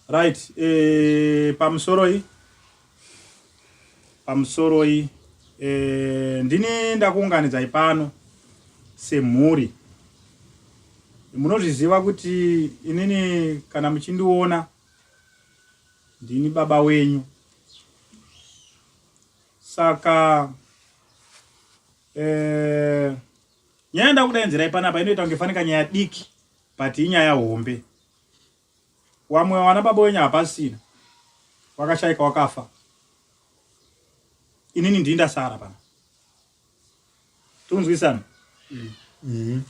right eh, pamusoroi pamusoroi eh, ndini ndakuunganidzai pano semhuri munozviziva kuti inini kana muchindiona ndini baba wenyu saka eh, nyaya ndakudainzirai panapa inoita kunge fanika nyaya diki but inyaya hombe wamwe wana baba wenyu hapasina wakashaika wakafa inini ndii ndasara pana tikunzwisana mm. mm.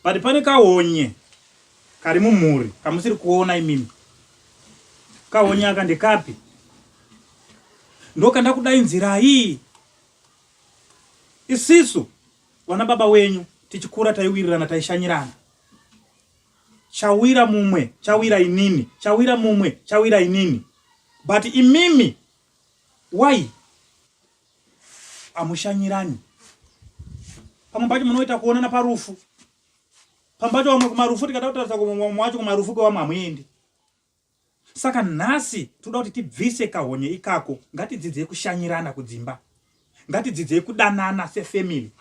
but pane kaonye kari mumhuri kamusiri kuona imimi kaonye aka ndekapi ndokanda kudainzirai isisu Vana baba wenyu tichikura taiwirirana taishanyirana chawira mumwe chawira inini chawira mumwe chawira inini but imimi why amushanyirani pamwe pacho munoita kuonana parufu pamwe pacho vamwe kumarufu tikada kutaridza kumwe wacho kumarufu kwevamwe hamuendi Saka nhasi toda kuti tibvise kahonye ikako, ngatidzidzei kushanyirana kudzimba, ngatidzidzei kudanana sefamily,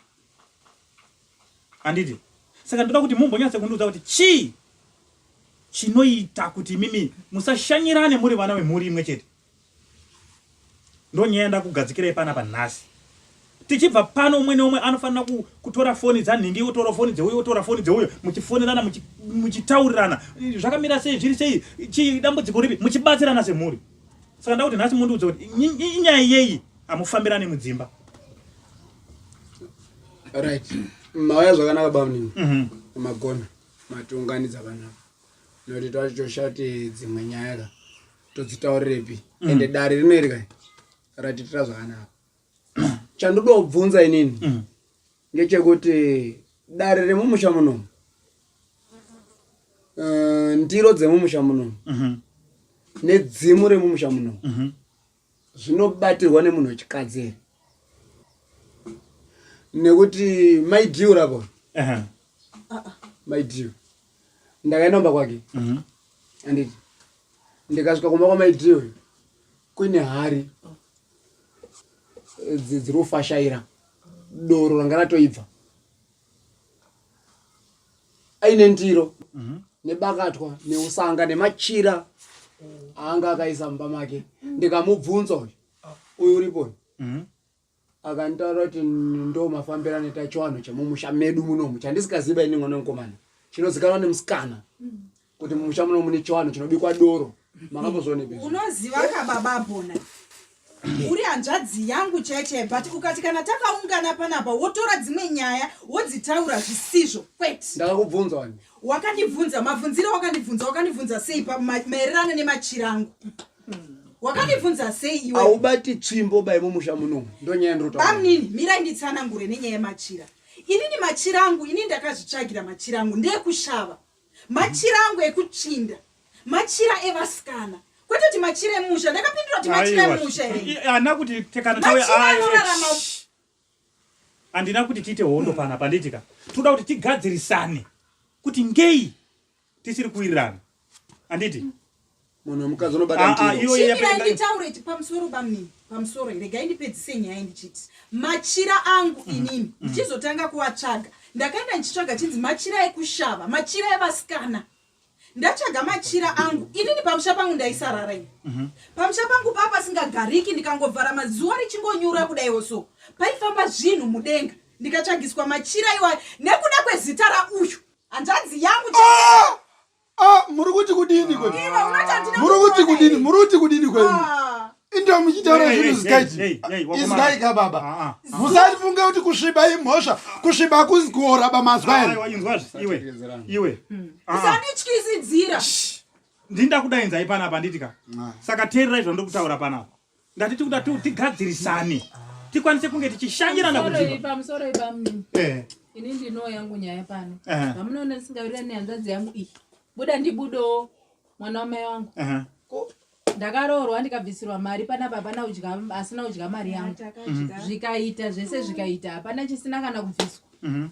handiti? Saka ndoda kuti mumbonyatse kundiudza kuti chii chinoita kuti imimi musashanyirane muri vana vemhuri imwe chete. ndonyaya yandakugadzikirai pana panhasi tichibva pano umwe neumwe anofanira kutora foni dzanhingi otora foni dzeuyo otora foni dzeuyo muchifonerana muchitaurirana zvakamira sei zviri sei chidambudziko ripi muchibatsirana semhuri saka ndakuti nhasi mundiudza kuti inyaya yeyi hamufambirane mudzimba right mauya zvakanaka bamnini mhm. magona matiunganidza vanavo nokuti twachoshati dzimwe nyaya ka todzitaurirepi mm. ende dare rino iri kai ratitira zvakanaka chandoda kubvunza inini mm. ngechekuti dare remumusha munomu eh, ndiro dzemumusha munomu mhm. nedzimu remumusha munomu mhm. zvinobatirwa nemunhu wechikadzi here nekuti maidiu rako maidiu ndakaenda kumba kwake mhm. anditi ndikasvika kumba kwamaitiri uyu kuine hari eh, dziri kufashaira doro ranga ratoibva aine ndiro mhm. nebakatwa neusanga nemachira aanga akaisa mumba make ndikamubvunza uyu uyu uripo mhm. akantaura kuti ndo mafambiro anoita chiwanhu chemumusha medu munomu chandisingaziva ini mwana mukomana chinozikanwa nemusikana kuti mumusha munomu mune chiwanhu chinobikwa doro makambozvioneeunoziva kababa bona uri hanzvadzi yangu cheche but ukati kana takaungana panapa wotora dzimwe nyaya wodzitaura zvisizvo kwete ndakakubvunza wani wakandibvunza mabvunzire wakandibvunza wakandibvunza sei maererano nemachirangu wakandibvunza sei iwe aubati tsvimbo bai mumusha muno ndonyaya ndrota bamnini mira nditsanangure nenyaya yemachira inini machira angu ini ndakazvitsvagira machira angu ndeyekushava machira angu ekutsvinda machira evasikana kwete kuti machira emusha ndakapindura kuti machira emusha ana kuti tekanoanorarama handina kuti tiite hondo pana panditika toda kuti tigadzirisane kuti ngei tisiri kuwirirana anditi munhu wemukadzi unobataiyoyenditaureti ah, ah, pamusoro bamnini pamusoro regai ndipedzise nyaya ndichiti machira angu mm. inini mm. ndichizotanga kuatsvaga ndakaenda ndichitsvaga chinzi machira ekushava machira evasikana ndatsvaga machira angu inini pamusha pangu ndaisarara ini mhm. pamusha pangu paa pasingagariki ndikangovhara mazuva richingonyura kudaiwo so paifamba zvinhu mudenga ndikatsvagiswa machira iwayo nekuda kwezita rauyu hanzvadzi yangu ah! ah, muri kuti kudini kwe muri kuti kudini muri kuti kudini kwe ah. ndo muchitaura zvinhu zikaiti izwaika baba ah, musati funge kuti kusviba imhosva kusviba hakuzi kuora bamazwa ere usandityisidzira ndinda kudainzai panapa nditika saka teererai zvandokutaura panapa ngatiti kuda tigadzirisane tikwanise kunge tichishanyirana kuipamusoroi eh. ini ndinoo yangu nyaya pano eh. vamunoona ndisingavirira nehanzvadzi yangu iyi buda ndibudowo mwana wamai wangu eh. ndakaroorwa ndikabvisirwa mari panapa hapana udya asina udya mari yangu mhm. zvikaita zvese zvikaita hapana chisina kana kubviswa mhm.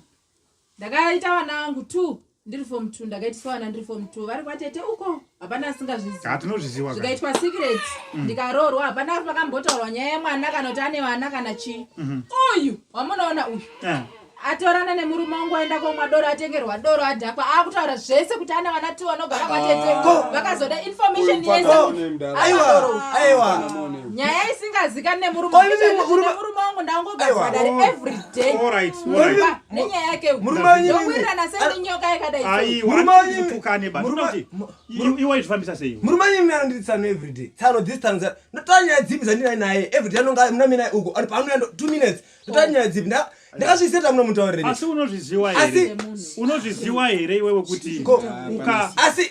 ndakaita vana vangu two ndiri form two ndakaitiswa vana ndiri form two vari kwatete uko hapana asingazvizivatinozviziva zvikaitwa secret mm. ndikaroorwa hapana pakambotaurwa nyaya yemwana kana kuti ane vana kana chii mhm. uyu wamunoona uyu eh. atorana nemurume wangu aenda komwa doro atengerwa doro adhakwa akutaura zvese kuti ana vana two anogara kwatete ah. vakazoda information yeseaiwa nyaya isingazikani nemurume wangu ndangogaaeveryday nenyaya yake ndowirirana sei nenyoka yakadaiiwe zvifambisa sei murume anyi mnana ndiri tsano everyday tsano this time ndotaa nyaya dzipi dzandinai naye everyday anonga mna mina uko ari paanoya two minutes ndotaa nyaya dzipi ndakazviseta muno mutauriri asi unozviziwa here unozviziwa here iwewe kuti asi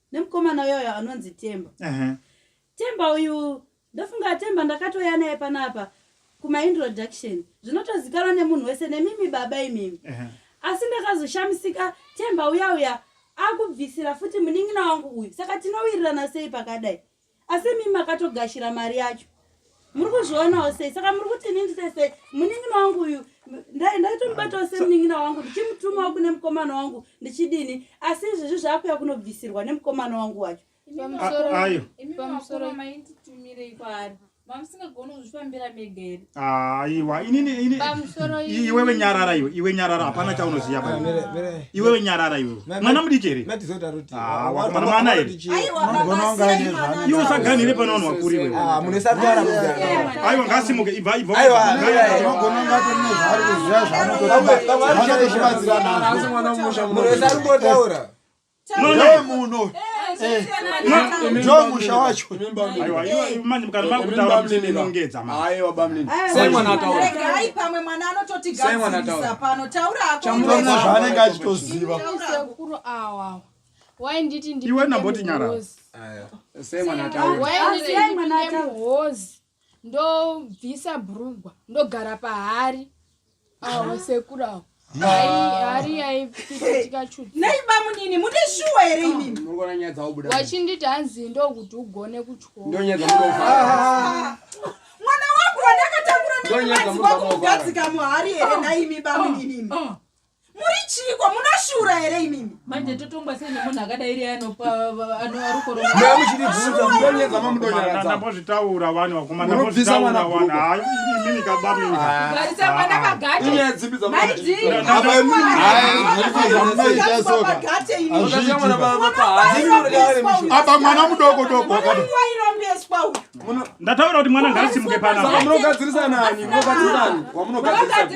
nemukomana uyoyo anonzi temba uh -huh. temba uyu ndofunga temba ndakatouya naye panapa kumaintroduction zvinotozikanwa nemunhu wese nemimi baba imimi uh -huh. asi ndakazoshamisika temba uya uya akubvisira futi munin'ina wangu uyu saka tinowirirana sei pakadai asi mimi makatogashira mari yacho muri kuzvionawo sei saka muri kuti ini ndite sei munin'ina wangu uyu ndaitomubatawo semunin'ina wangu ndichimutumawo kune mukomana wangu ndichidini asi izvezvi zvaakuya kunobvisirwa nemukomana wangu wacho mamusingagoni kuzvifambira mega here aiwa ah, inini ini iwewe nyarara iwe iwe nyarara hapana chaunoziva ah, pa iwewe nyarara iwe mwana mudiki here ah, wakomana mwana here iwe usaganire pano vanhu vakuru iwe aiwa ngasimuke ibva ibva ndomuno ndomusha wacho zvaanenge achitoziva wainditi ndiwe ndamboti nyara sei mwana ataura ndobvisa bhurugwa ndogara pahari awa sekuru awo hari yaipfitikachunaibamnini mune shuwa here ininwachinditi hanzi ndokuti ugone kutyomwana wangu wandakatangura neazi kwako kugadzika muhari here naimi bamnini muri chiiko munoshura here imimi manje totongwa sei nemunhu akadairi anopa anoarukoromambozvitaura vanhu vakumanabvisa mwana kugarisa mwana pagatiaaba mwana mudoko doko ndataura kuti mwana ngaasimuke panaamunogadzirisa nani munogadzirisani wamunogadzirisani